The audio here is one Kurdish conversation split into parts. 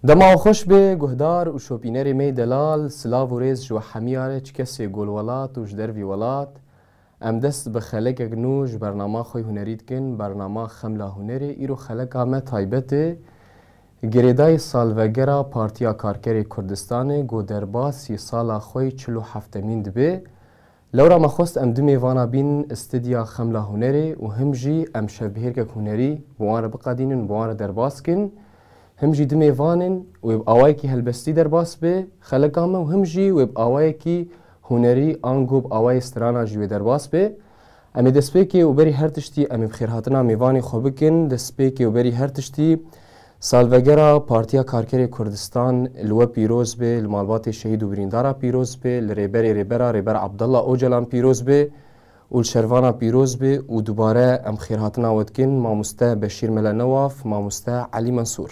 Dema xweş bê guhdar û şopînerê me delal silav û rêz ji we hemî are çi kesê golwelat û ji dervî welat Em dest bi xelekek nû ji bernama xwe hunerî dikin, bernama Xemla Hunerê. Îro xeleka me taybet e. Girêdayî salvegera Partiya Karkerê Kurdistanê got derbasî sala xwe yê çil û heftemîn dibe. Lewra me xwest em du mêvana bîn stidya Xemla Hunerê û him jî em şevbihêrkek hunerî bi wan re biqedînin, bi wan re derbas bikin. Him jî du mêvanên wê bi awayekî helbestî derbas bibe xeleka me û him jî wê bi awayekî hunerî an gob awayê strana jî wê derbas be. Em ê destpêkê û berî her tiştî em ê bi xêrhatina mêvanê xwe bikin, destpêkê û berî her tiştî salvegera Partiya Karkerê Kurdistan li we pîroz be, li malbatê şehîd û birîndara pîroz be, li Rêberê Rêbera Rêber Abdullah Ocalan pîroz be û li şervanan pîroz be û dubare em xêrhatina we dikin, Mamoste Beşîr Mele Newaf, Mamoste Elî Mensûr.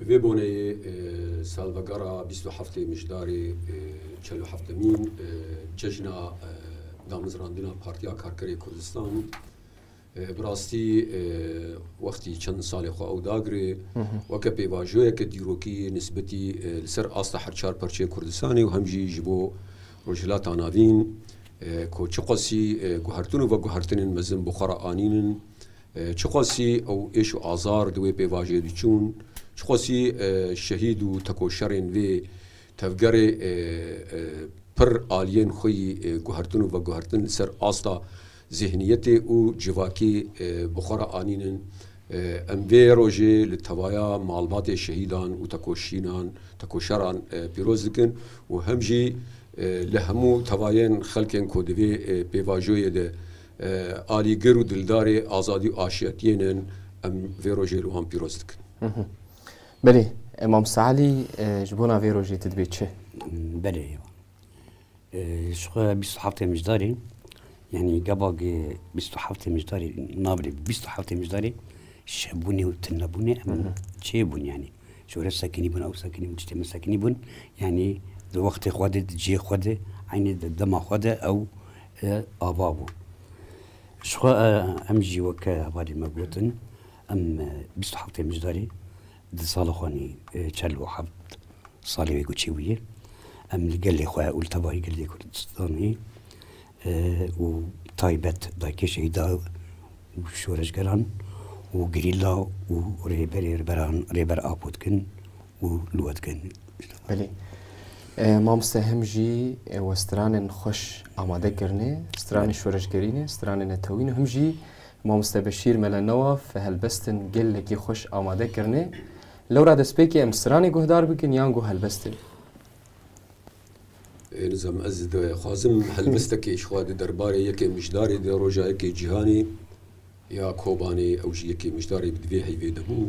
Bi vê boneyê salvegera bîst û heftê Mijdarê çel û heftemîn Cejna Damizrandina Partiya Karkerê Kurdistan bi rastî wextî çend salê xwe ew dagirê weke pêvajoyeke dîrokî nisbetî li ser asta her çar parçeyên Kurdistanê û hem jî ji bo Rojhilata Navîn ku çi qasî guhertin û veguhertinên mezin bi xwe re anînin. Çiqasî ew êş û azar di wê pêvajiyê diçûn, çiqasî şehîd û tekoşerên vê tevgerê pir aliyên xwe yî guhertin û veguhertin li ser asta zêhniyetê û civakî bi xwe re anînin, em vê rojê li tevaya malbatê şehîdan û tekoşînan, tekoşeran pîroz dikin û hem jî li hemû tevayên xelkên ku di vê pêvajoyê de alîgir û dildarê azadî û aşiyetiyê ne in, em vê rojê li wan pîroz dikin. Belê, Mamste Elî ji bona vê rojê tu dibê çi? Belê ji xwe bîst û heftê mijdarê yanî gevagê bîst û heftê mijdarê nabirê bîst û heftê mijdarê şebûnê û tunebûnê em çêbûn yanî. Şûrê sekinî bûn, ew sekinî bûn, tiştê min sekinî bûn. Yanî di wextê xwe de, di cihê xwe de, eynî di dema xwe de ew ava bû. Jixwe em jî weke hevalê me gotin em bîst û heftê mijdarî di sala xwe nî çel û heft salê wê goçî bûye. Em li gelê xwe û li tevahî gelê Kurdistanê û taybet dayikê şehîda û şoreşgeran û gerîla û rêberê rêberan rêber Apo dikin û li we dikin. Belê. Mamoste hem jî we stranên xweş amade kirine, stranên şoreşgerî ne, stranên netewî ne, hem jî Mamoste Beşîr Mele Newaf helbestin gelekî xweş amade kirine. Lewra destpêkê em stranê guhdar bikin yan got helbestê? Nizam ez dixwazim helbistekê ji xwe di derbarê yekê mijdarê de roja yekê cîhanê ya Kobanê ew jî yekê mijdarê bi divê heyvê de bû.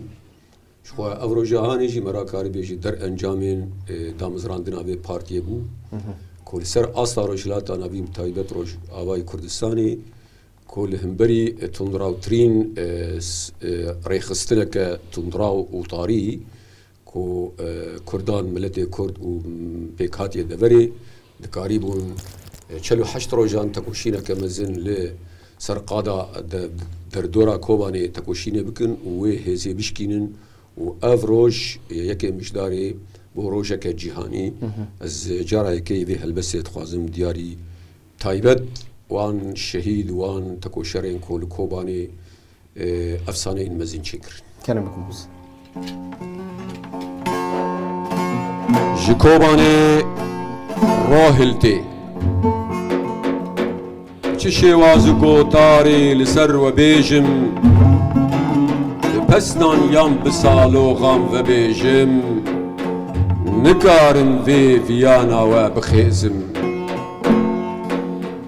Ji xwe ev roja hanê jî me ra karibê ji der encamên damizrandina vê partiyê bû ku li ser asta Rojhilata Navî bi taybet Rojavayê Kurdistanê ku li himberî tundrawtirîn rêxistineke tundraw û tarî ku Kurdan, miletê Kurd û pêkhatiye deverê dikarîbûn çel û heşt rojan tekoşîneke mezin li ser qada derdora Kobanê tekoşînê bikin û wê hêzê bişkînin û ev roj ye yekê mijarê bo rojeke cîhanî. Ez cara yekê vê helbestê dixwazim diyarî taybet wan şehîd û wan tekoşerên ku li Kobanê, Efsaneyên mezin çê kirin. Kene bi ku biz. Ji Kobanê rahiltê. Çi şêwaz û gotarê li ser we bêjim, bi pestan yan bi saloxan vebêjim, nikarim vê viyana we bixêzim.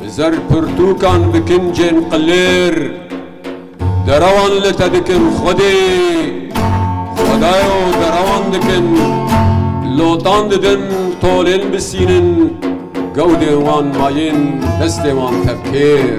Bi zerpirtûkan bi kincên qilêr derewan li te dikin Xwedê, Xwedayo derewan dikin, lotan didin tolên bisînin gewdên wan mayên destê wan tevkêr.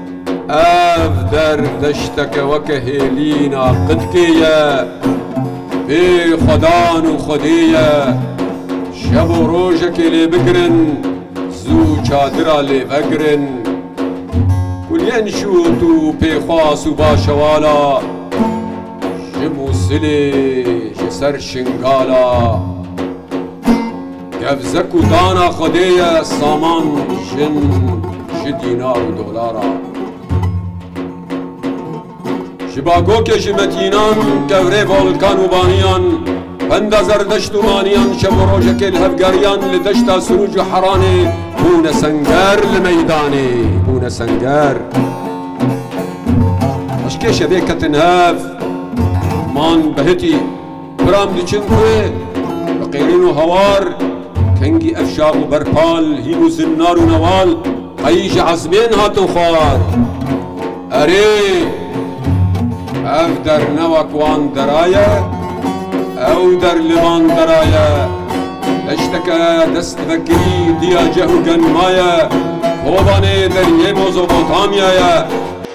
Ev der deşteke weke hêlîna qidkê ye, bê xwedan û xwedê ye, şev û rojekê lê bigirin, zû çadira lê vegirin. Kuliyên şût û pêxwas û başewala, ji Mûsilê ji ser Şingala. Gebze ku dana Xwedê ye saman jin ji dînar û dolaran. Ji bagokê ji metînan kewrê volkan û vaniyan, benda zerdişt û maniyan şev û rojekê li hev geriyan li deşta Sûrûc û Heranê bûne senger li meydanê bûne senger. Eşkê şevê ketin hev man behitî. Piram diçin ku bi qêrîn û hawar, kengî evşax û berpal, hîn û zinnar û newal qeyî ji ezmên hatin xwar. Erê! Ev der ne wek wan dera ye, ew der li van dera ye. Deşteke dest dibe kirî, diya ceh û gen maye, Kobanê deriyê Mozopotamya ye.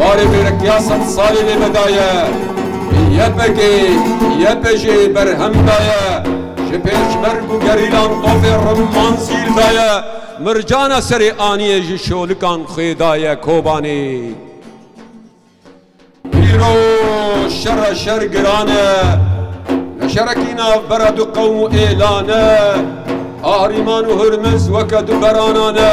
Barê mêrekiya sed salî lê vedaye, YPG, YPJ berhem daye, ji pêşmerg û gerîlan tofê rimman sîl daye, mircana serê aniyê ji şolikan xwê daye Kobanê. Îro şera şer giran e, ne şerekî navbera du qewm û êlan e, Qahrîman û Hurmiz weke du beranan e.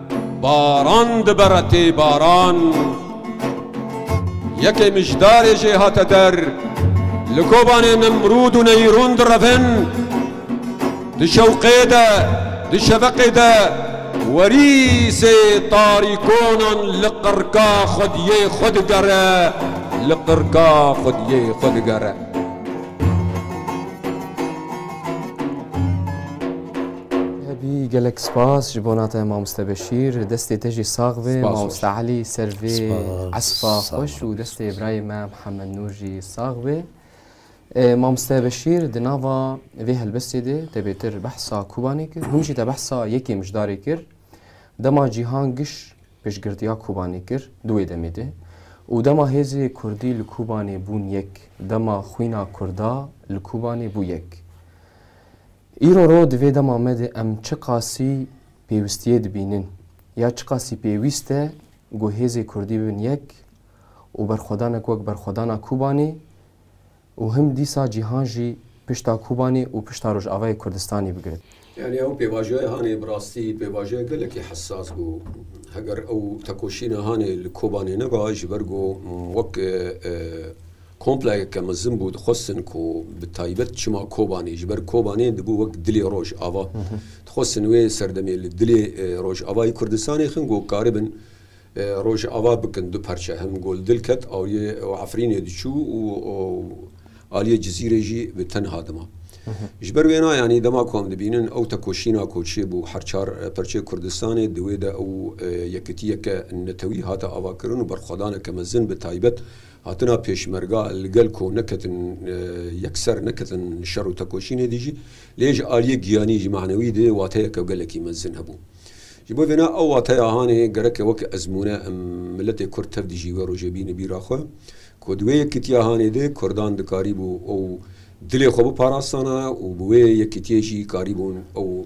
Baran dibere tê baran. Yekê mijdarê jê hate der. Li Kobanê Nemrûd û Neyrûn direvin. Di şewqê de, di şeveqê de werî sê tarîkonan li qirka xwediyê xwe digere, li qirka xwediyê xwe digere. Hebî gelek spas ji bona te mamoste Beşîr. Destê te jî sax be mamoste Elî ser vê espa xweş û destê birayê me Mihemed Nûr jî sax be. Mamoste Beşîr di nava vê helbestê de te bêtir behsa Kobanê kir. Hûn jî te behsa yekê mijdarê kir. Dema cîhan giş pêşgirtiya Kobanê kir di wê demê de û dema hêzê Kurdî li Kobanê bûn yek, dema xwîna Kurda li Kobanê bû yek. Îro ro di vê dema me de em çiqasî pêwistiyê dibînin ya çiqasî pêwîst e ku hêzê Kurdî bibin yek û berxwedanek wek berxwedana Kobanê û him dîsa cîhan jî pişta Kobanê û pişta Rojavayê Kurdistanê bigirin. Yanî ew pêvajoya Hanê bi rastî pêvajoya gelekî hesas bû. Heger ew tekoşîna Hanê li Kobanê neba ji ber ku wek Komplexeke mezin bû, dixwestin ku bi taybet çima Kobanê, ji ber Kobanê dibû wek dilê roj ava. Dixwestin wê serdemê li dilê roj avayê Kurdistanê xin ku karibin roj ava bikin du parçe hem ku li dil ket aliyê Efrînê diçû û aliyê Cizîrê jî bi tenha dima. Ji ber wêna yanî dema ku em dibînin ew tekoşîna ku çêbû her çar parçeyê Kurdistanê di wê de ew yekitiyeke netewî hate avakirin û berxwedaneke mezin bi taybet Hatina pêşmerga li gel ku neketin yekser neketin şer û tekoşînê dî jî lê ji aliyê giyanî jî manewî dê wateyeke gelekî mezin hebû. Ji bo vêna ew wateya hanê gereke weke ezmûne em miletê kurd tev dijî wê rojê bîne bîra xwe ku di wê yekitiya hanê de kurdan dikarîbû ew dilê xwe biparastana û bi wê yekitiyê jî karîbûn ew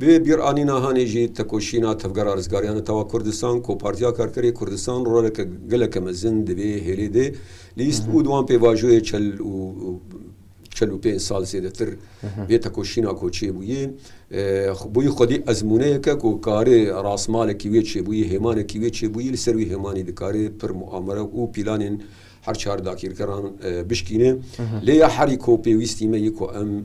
Bi vê bîranîna hanê jî tekoşîna Tevgera Rizgariya Netewa Kurdistan ku Partiya Karkerê Kurdistan roleke geleke mezin di vê hêlê de lîst û di wan pêvajoyê çel û çel û pênc sal zêdetir vê tekoşîna ku çêbûyê bûyî xwedî ezmûneyeke ku karê rasmalekî wê çêbûyî hêmanekî wê çêbûyî li ser wî hêmanî dikarê pir muamere û pîlanên her çar dakîrgeran bişkîne. Lê ya herî ku pêwîstî me yê ku em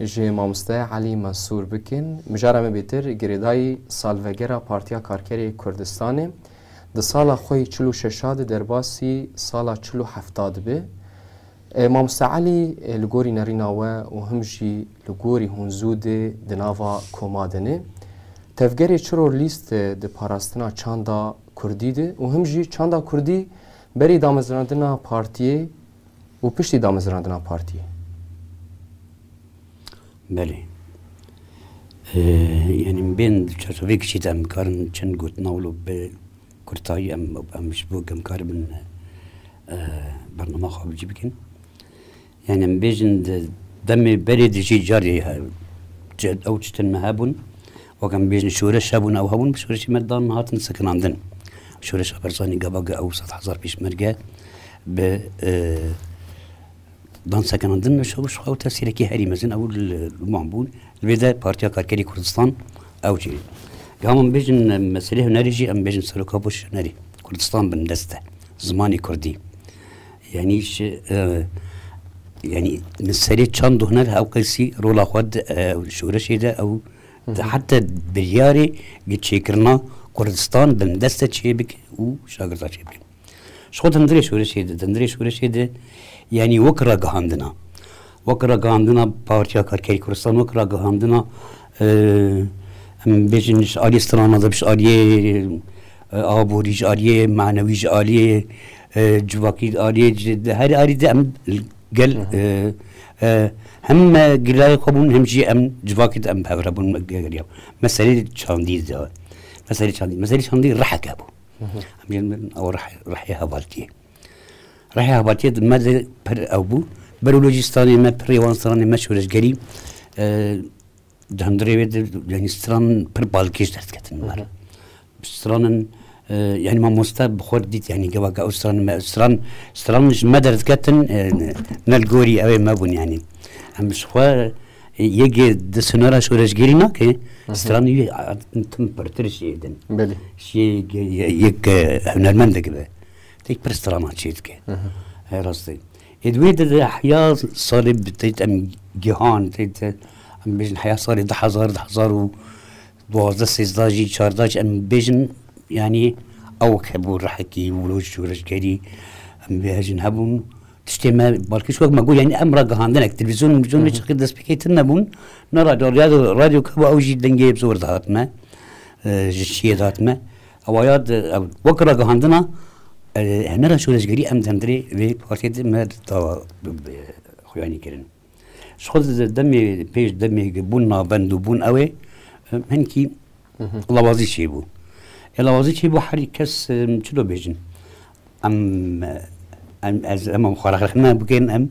Ji Mamoste Elî Mensûr bikin. Mijara me bêtir girêdayî salvegera Partiya Karkerê yê Kurdistanê di sala xwe yê çil û şeş a di derbasî sala çil û heft a dibe. Mamoste Elî li gorî nerîna we û him jî li gorî hûn zû dê di nava koma de ne. Tevgerê çiror lîst di parastina çanda kurdî de û him jî çanda kurdî berî damezrandina partiyê û piştî damezrandina partiyê. Belê. Yanî min bên di çerçeveyê kiçî de em nikarin çend gotina wilo bi kurtayî em em ji bo em karibin bernama xwe bicî bikin. Yanî em bêjin di demê berê de jî carê ew tiştin me hebûn. Wek em bêjin şoreş hebûn ew hebûn bi şoreşê me dan hatin sekinandin. Şoreşa Berzanî gavage ew sed hezar pêşmerge bi dan sekinandin li şew xew tesîrekî herî mezin ew wan bûn. Li vê de Partiya Karkerî Kurdistan ew çê. Gam em bêjin meselê hunerê jî em bêjin seroka boş hunerê Kurdistan bin deste zimanê Kurdî. Yanî yanî li serê çand huner hewqesî rola xwe şoreşê de ew Di heta biryarê bi çêkirina Kurdistan bindest e çê bikin û şagirda çê bikin. Ji xwe dindirê şûrişê de, dindirê şûrişê de yanî wek ragihandina, wek ragihandina Partiya Karkerê Kurdistan, wek ragihandina em bêjin ji aliyê strana de, ji aliyê aborî, ji aliyê manewî, ji aliyê civakî, ji aliyê ji herî alî de em Gel hem me gilayê xwe bûn hem jî em civakê de em bi hev re bûn geriya. Me serê çandî de me serê çandî me serê çandî reheke bû. Em jî min ew rehê hevaltiyê. Rehê hevaltiyê me de pir ew bû. Berolojîstanê me pirê wan stranê me şoreşgerî Di hundirê wê de yanî stranan pir balkêş ders ketin min re. Stranan yanî mamoste bi xwe dît yanî gevake ew stranan me stran stranan ji me ders ketin ne li gorî ew ê me bûn yanî. Em ji xwe yekê di sinara şoreşgêrî nake stran wî tim pirtir şiyê din. Belê. Şiyê yek hunermendek be. Tek pir stranan çê dike. Rastî. Yê di wê de de heya salê tê em gihan tê em bêjin heya salê di hezar di hezar û duwazdeh sêzdeh jî çardeh jî em bêjin yanî ewk hebû rehekî û roj şoreşgerî em vê hejin hebûn tiştê me balkî şok me got yanî em ragihandinek televîzyon mizyon hiç qid dest pêkê tin nebûn ne radyo radyo radyo kebû ew jî dengê zor dihat me ji şiyê dihat me Awaya di wek ragihandina hunera şoreşgerî em di hundirê vê partiyê de me dawa xuyanî kirin. Ji xwe di demê pêş demê bûn navbend û bûn ew ê hinkî lawazî çêbû. Ê lawazî çêbû herî kes çi dibêjin. Em em ez em xwe rexne bikên em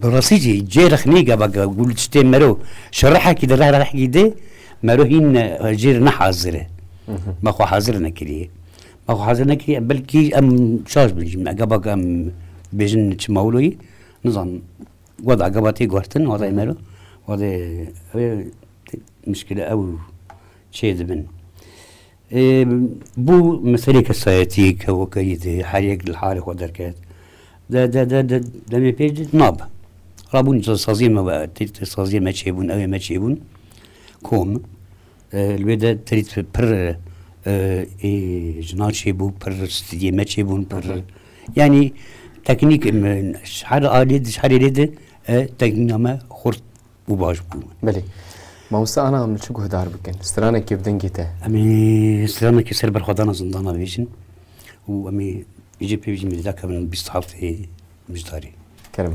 bi rastî jî cê rexnî gava gul tiştê mero şerehekî di rehekî de mero hîn jê re nehazir e. Me xwe hazir nekiriye. Me xwe hazir nekiriye belkî em şaş bin jî me gava ke em bêjin çi mewloyî nizanim goda gava tê gotin oxê mero oxê mişkile ew çê dibin. Bû meselê kesayetî ke weke îdî her yek li halê xwe derket de de de de demê pê dît nab. Rabûn saziyê me ve tît saziyê me çêbûn ewê me çêbûn kom li wê de tît pir jina çêbû pir stîdiyê me çêbûn pir yanî teknîk her alî di her alî di teknîna me xurt û baş bûn. Belê. Mamosta ana em li çi guhdar bikin? Stranekê bi dengê te. Em ê stranekê ser berxwedana zindana bêjin û em ê jê pê bêjin mêrî dakevin bîst haltê mijdarî. Kerem.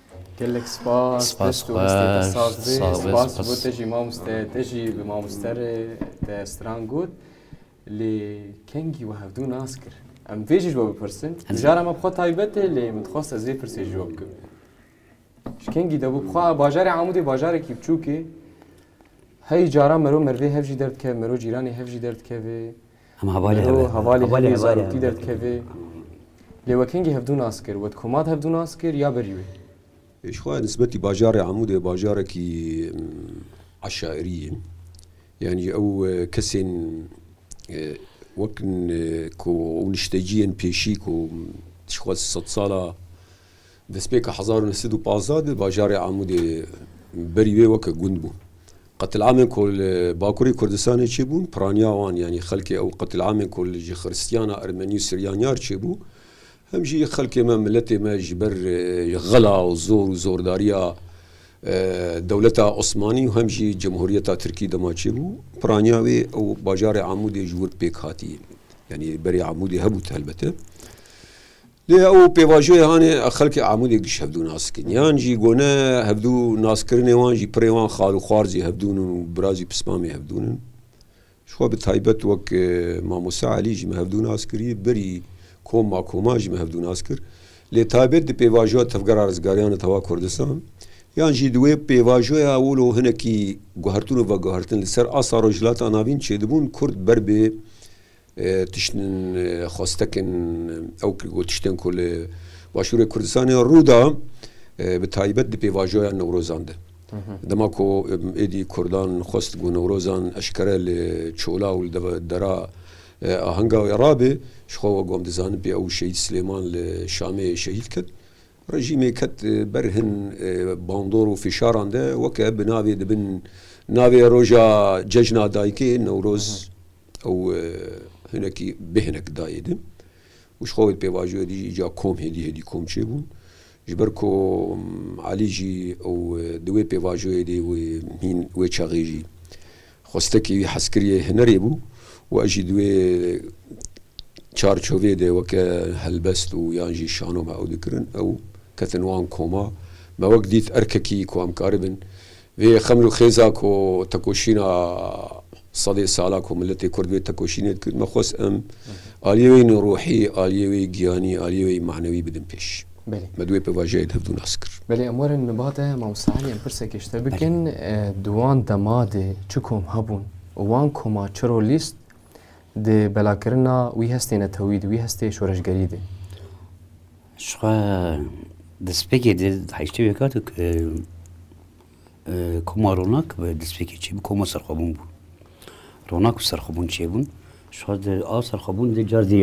Gelek spas dest û hestê te saz be. Spas ji bo te jî mamoste. Te jî bi mamoste re te stran got. Lê kengî we hevdu nas kir. Em vê jî ji bo bipirsin. Mijara me bi xwe taybet e lê min dixwest ez vê pirsê ji we bikim. Ji kengî de bû bixwe bajarê Amûdê bajarekî biçûk e. Hey caran mero merivê hev jî derdikeve, mero cîranê hev jî derdikeve. Îro hevalê hemî zarokî derdikeve. Lê we kengî hevdû nas kir? We di komad hevdû nas kir ya berî wê? Ji xwe nisbetî bajarê Amûdê bajarekî eşairî ye. Yanî ew kesên wek ku ew nişteciyên pêşî ku ji xwe sedsala Destpêka hezar û neh sed û pazdeh de bajarê Amûdê berî wê weke gund bû. Qetil'amên ku li Bakurê Kurdistanê çêbûn, piraniya wan yanî xelkê ew qetil'amên ku li ji Xiristiyana, Ermenî û Siryaniyar çêbû, hem jî xelkê me, miletê me ji ber xela û zor û zordariya dewleta Osmanî û hem jî Cumhuriyeta Tirkî dema çêbû, piraniya wê ew bajarê Amûdê ji wir pêk hatî, yanî berî Amûdê hebû helbete. Lê ew pêvajoyê hanê xelkê Amûdê giş hevdû nas kin. Yan jî gone hevdû naskirinê wan jî pirê wan xal û xwar jî hevdûn û bira jî pismamê hevdûn in. Ji xwe bi taybet wek Mamoste Elî jî min hevdû nas kirî, berî kom a koman jî min hevdû nas kir. Lê taybet di pêvajoya Tevgera Rizgariyan li Tava Kurdistan yan jî di wê pêvajoya wilo hinekî guhertin û veguhertin li ser asta Rojhilata Navîn çêdibûn Kurd ber bi Tiştên xwestekên ew ku got tiştên ku li Başûrê Kurdistanê rû da bi taybet di pêvajoya Newrozan de. Dema ku êdî Kurdan xwest ku Newrozan eşkere li çola û li dera ahenga wê rabê, ji xwe wek wan dizanin pê ew Şehîd Silêman li Şamê şehîd kir. Rejîmê ket ber hin bandor û fişaran de weke bi navê dibin navê roja cejna dayikê, Newroz. Ew hinekî bê hinek dayê din û ji xwe wê dipêvajoye dijî îca kom hêdî hêdî kom çêbûn. Ji ber ku Elî jî ew di wê pêvajoyê de wê hîn wê çaxê jî xwestekî wî hezkiriyê hinerê bû û ez jî di wê çarçovê de weke helbest û yan jî şano me ew dikirin ew ketin wan koma me wek dît erkekî ku em karibin Vê xemr û xêza ku tekoşîna sedê sala ku miletê Kurd vê tekoşînê dikir, me xwest em aliyê wê yî ruhî, aliyê wê yî giyanî, aliyê wê yî manewî bidin pêş. Belê. Me di wê pêvajiyayê de hevdû nas kir. Belê, em werin li ba te Mamosta Elî em pirsekê ji te bikin. Di wan dema de çi kom hebûn û wan koma çi rolîst di belakirina wî hestê netewî de, wî hestê şoreşgerî de? Jixwe destpêkê de heyştê wê kat koma ronak bi destpêkê çêbû koma serxwebûn bû. Ronak û serxwebûn çêbûn. Jixwe di a serxwebûn de car dî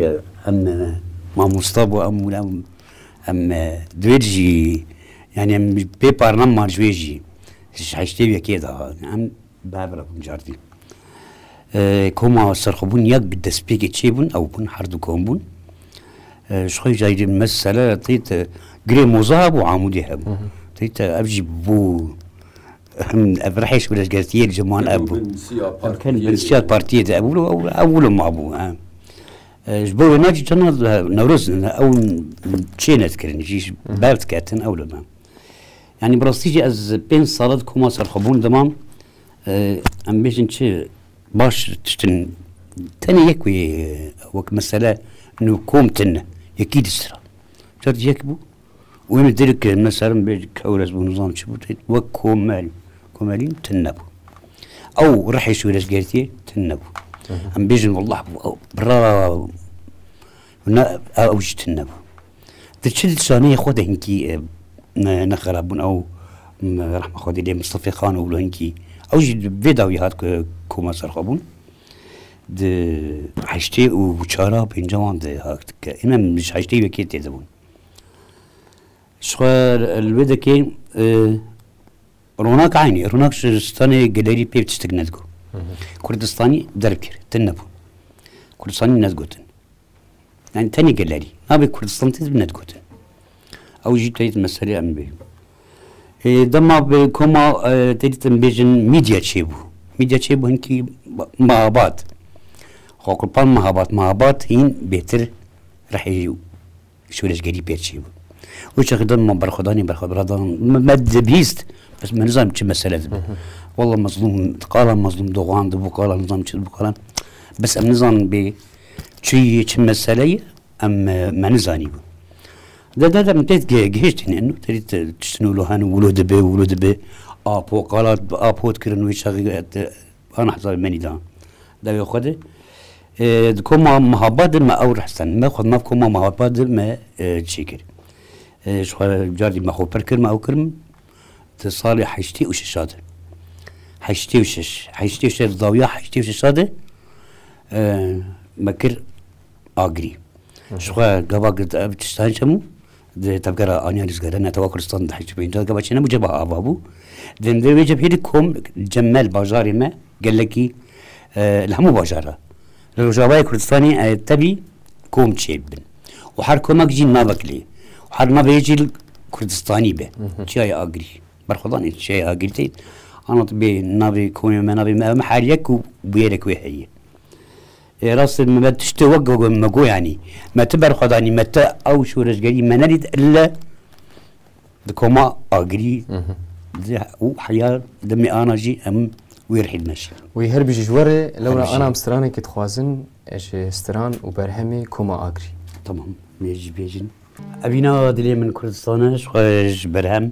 em mamosta bû em û em em divêt jî yani em pê parnan man ji wê jî ji heyştê wê kê de hatin em Barbara bûn cardî. Koma serxwebûn ya bi destpêkê çêbûn ew bûn her du kom bûn. Ji xwe cayî dê mesela tê te girê moza hebû amûdê hebû. Tê te ev jî bû ev rehêş bi lejgertiyê ciman ev bû. Binsiya partiyê de ew ew wilo mabû. Ji bo wê nacî tena newroz ew çê nedkirin jî berdiketin ew li me. Yanî bi rastî jî ez pênc sal e di koma serxwebûn de mam. Em bêjin çi baş tiştin tenê yek wê wek mesele nû kom tin ne yekî dîst ra çert yek bû û em dirk kirin me serin bê kewres bû nizam çi bû wek komel komelîn tin nebû. Ew rihê şûrezgertiyê tin nebû. Em bêjin wallah bira Na ew jî tune bû. Di çil saniyê xwe de hinkî ne xerab bûn ew rehma Xwedê lê Mistefê Xanoglu hinkî ew jî vê dawî hat ku koma ser xwe bûn. Di heştê û çara pênca wan de hat ke hîn em ji heştê û yekê têde bûn. Ji xwe li wê de kêm Ronak aynî, ronak ji stanê gelerî pê tiştek nedigo. Kurdistanî derb kir, din nebû. Kurdistanî nedigotin. Yani tenê gelerî. Nabê Kurdistan tê nedigotin. Ew jî teyit meselê em bê. E, dema bi koma e, teyit em bêjin medya çêbû. Medya çêbû hinkî mahabat. Xwe kurpan mahabat. Mahabat hîn bêtir rehêjî Şoreşgerî pê çê bû. Û çaxê dan man berxwedanê berxwebira dan me dibihîst bes me nizanim çi mesele dibû. Walla mezlûm qala mezlûm doxan dibû qala nizam çi dibû qala bes em nizanin bê çi yê çi mesele ye em me nizanîbû. De de de min tê gihêştîne nu terî tiştin wilo hene wilo dibe wilo dibe apo qala apo dikirin wê çaxê ana hesabê menî dan dawê xwe de Di koma Mihaba de me ew rehsand. Me xwe nav koma Mihaba de me çê kir. Ji xwe carî me xwe pir kir me ew kir min di salê heştê û şeşa de. Heştê û şeş. Heştê û şeş di dawiya heştê û şeşa de me kir agirî. Ji xwe gava girti ev tiştan çemû Di tevgera aniya Lîzgera Netewa Kurdistan di heşt û pêncî de gava çi nebû cebah ava bû. Di navê wê cebhê de kom cemel bajarê me gelekî li hemû bajara li Rojavayê Kurdistanê tevî kom çêbibin û her komek jî navek lê û her navê yê jî Kurdistanî be. Çiyayê Agirî berxwedan ê çiyayê Agirî tê anû tu bê navê komê me navê me ew me her yek û bûyerek wê heye. Lê rast e me tiştê wek me got yanî me ti berxwedanî me ti ew şoreşgerî me nedît ille di koma agirî û heya demê ana jî em wê rihî dimeşin. Wî her bijî ji we re lewra ana em stranekê dixwazin ji stran û berhemê koma agirî. Tamam mêr jî bêjin. Evîna dilê min Kurdistan e ji xwe ji berhem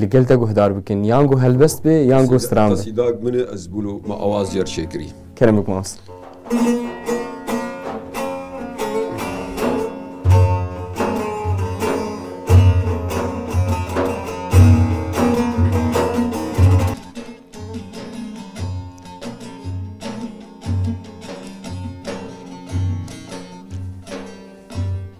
Li gel te guhdar bikin. Yan ku helbest bê yan ku stran be. Sîdag min e ez bûlo me awaz yer çêkirî. Kerem bik mast.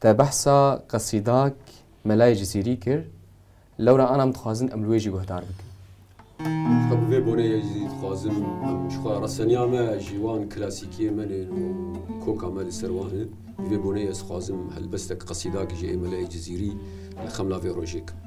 Te behsa qesîdak Melayê Cizîrî kir, lewra anan dixwazin em li wê jî guhdar bikin. Xwe bi vê bonê yê jî dixwazin em ji xwe re seniya me ji wan klasîkiyên me ne û koka me li ser wan e. Bi vê bonê ez dixwazim helbestek qesîdak ji Melayê Cizîrî li xemla vê rojê kim.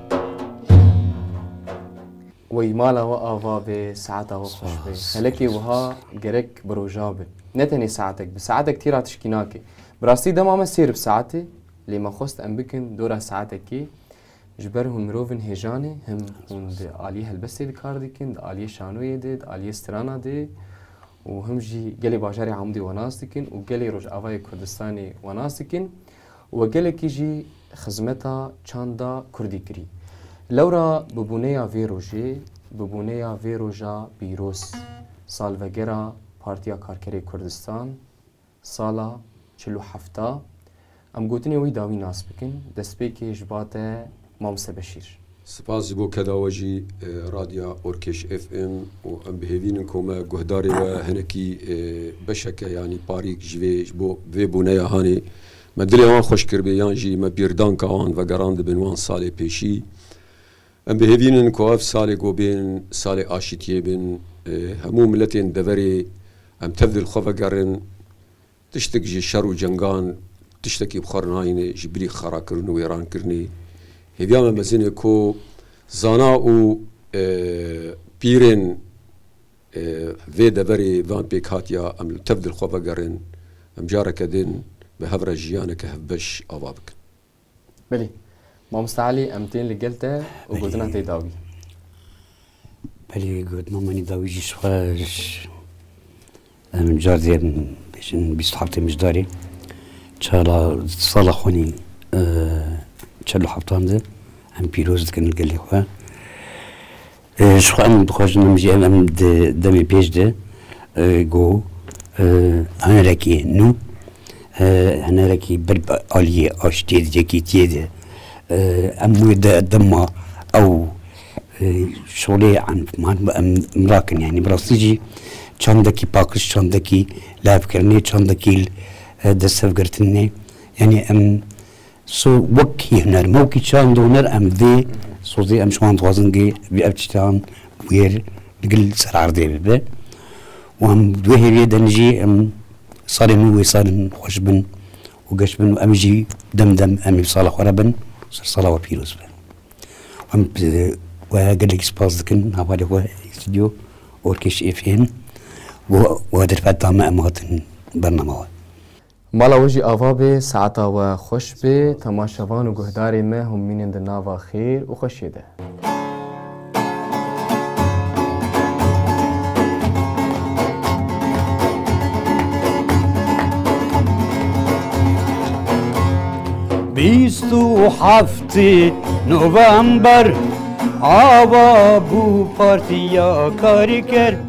Wey mala we ava be, saeta we xweş be. Xelekê wiha gerek bi roja be. Ne tenê saetek, bi saetek tîra tişkî nake. Bi rastî dema me sêr bi saetê, lê me xwest em bikin dora saetekê. Ji ber hûn mirov in hêjan e, him hûn di aliyê helbestê de kar dikin, di aliyê şanoyê de, di aliyê strana de û him jî gelê bajarê Amûdê we nas dikin û gelê Rojavayê Kurdistanê we nas dikin û we gelekî jî xizmeta çanda Kurdî kirî. Lewra bi bûneya vê rojê, bi bûneya vê roja pîroz, salvegera Partiya Karkerê Kurdistan, Sala çil û hefta em gotinên wî dawî nas bikin. Destpêkê ji ba te Mamste Beşîr. Spas ji bo keda we jî Radya Orkêş FM û em bihêvînin ku me guhdarê we hinekî beşeke yanî parîk ji vê ji bo vê bûneya hanê me dilê wan xweş kiribê yan jî me bîrdanka wan vegerandibin wan salê pêşî Em dihêvînin ku ev salê ku bên salê aşîtiyê bin, hemû miletên deverê em tev di li xwe vegerin, tiştik ji şer û cengan tiştekî bi xwe re nayîne ji bilî xerakirin û wêrankirinê. Hêviya me mezin e ku zana û pîrên vê deverê van pêkhatiya em tev di li xwe vegerin, em careke din bi hev re jiyaneke hevbeş ava bikin. Belê. Mamosta Elî em tên li gel te û gotina te dawî. Belê gotina min dawî jî ji xwe em car dê bêjin bîst û heftê mijdarê çala sala xwenî çel û heftan de em pîroz dikin gelê xwe. Ji xwe em dixwazin em jî em di demê pêş de ku hunerekî nû hunerekî ber bi aliyê aştiyê di yekîtiyê de em wê di dema ew şolê entiman bi em rakin yanî bi rastî jî çandekî paqij çandekî lafkirinê çandekî destevgirtinê yanî em So wekî huner me wekî çand û huner em dê sozê em ji wan dixwazin gê vê ev tiştan bûyer digil li ser erdê bibe û em di wê hêviyê de jî em salê nû wê sal in xweş bin û geş bin û em jî dem dem em ê bi sala xwe re bin ser sala we pîroz be. Em we gelekî spas dikin hevalê xwe stûdyo Orkêş FM û we derfet da me em hatin bername we. Mala we jî ava bê, saeta we xweş bê, temaşevan û guhdarê me hûn mînin di nava xêr û xweşiyê de. Bîst û heftî November ava bû Partiya Karîker.